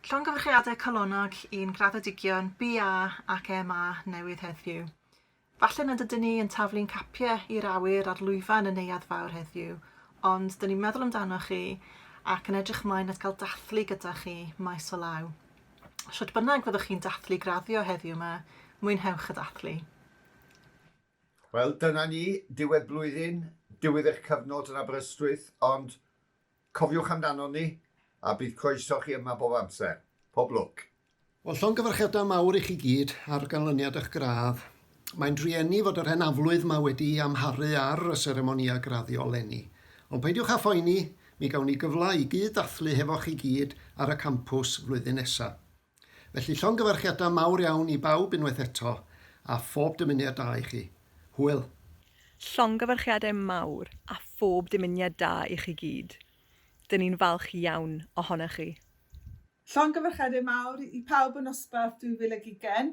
Llongyfarchiadau calonnog i'n graddedigion BA ac MA newydd heddiw. Falle nad ydyn ni yn taflu'n capiau i'r awyr a'r lwyfan yn neuad fawr heddiw, ond dyn ni'n meddwl amdano chi ac yn edrych ymlaen at gael dathlu gyda chi maes o law. Sut bynnag fyddwch chi'n dathlu graddio heddiw yma, mwynhewch y dathlu. Wel, dyna ni, diwedd blwyddyn, diwedd eich cyfnod yn Aberystwyth, ond cofiwch amdanon ni, a bydd croeso chi yma bob amser. Pob lwc! Wel, llongyfarchiadau mawr i chi gyd ar ganlyniad eich gradd. Mae'n drueni fod yr hen aflwydd 'ma wedi amharu ar y seremonïau graddio 'leni. Ond peidiwch â phoeni, mi gawn ni gyfle i gyd-ddathlu hefo chi gyd ar y campws flwyddyn nesa. Felly llongyfarchiadau mawr iawn i bawb unwaith eto, a phob dymuniad da i chi. Hwyl! Llongyfarchiadau mawr a phob dymuniad da i chi gyd. Dyn ni'n falch iawn ohonoch chi. Llongyfarchiadau mawr i pawb o Nosbarth 2020.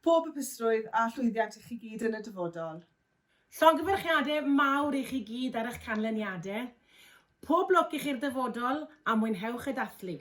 Pob hapusrwydd a llwyddiant i chi gyd yn y dyfodol. Llongyfarchiadau mawr i chi gyd ar eich canlyniadau. Pob lwc i chi'r dyfodol a mwynhewch y dathlu.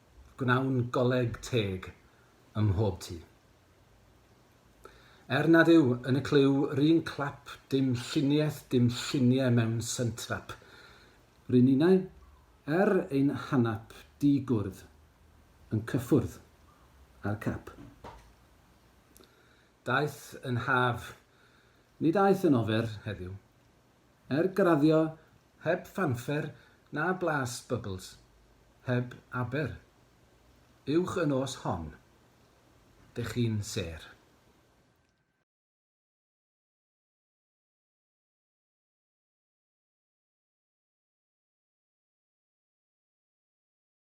gwnawn goleg teg ym mhob tŷ. Er nad yw yn y clyw 'run clap dim lluniaeth dim llunie mewn sentrap, ry' ninnau, er ein hanap di gwrdd yn cyffwrdd â'r cap. Daeth yn haf, nid aeth yn ofer heddiw. Er graddio heb fanffer na blas bubbles, heb aber. Uwch y nos hon. Dych chi'n sêr.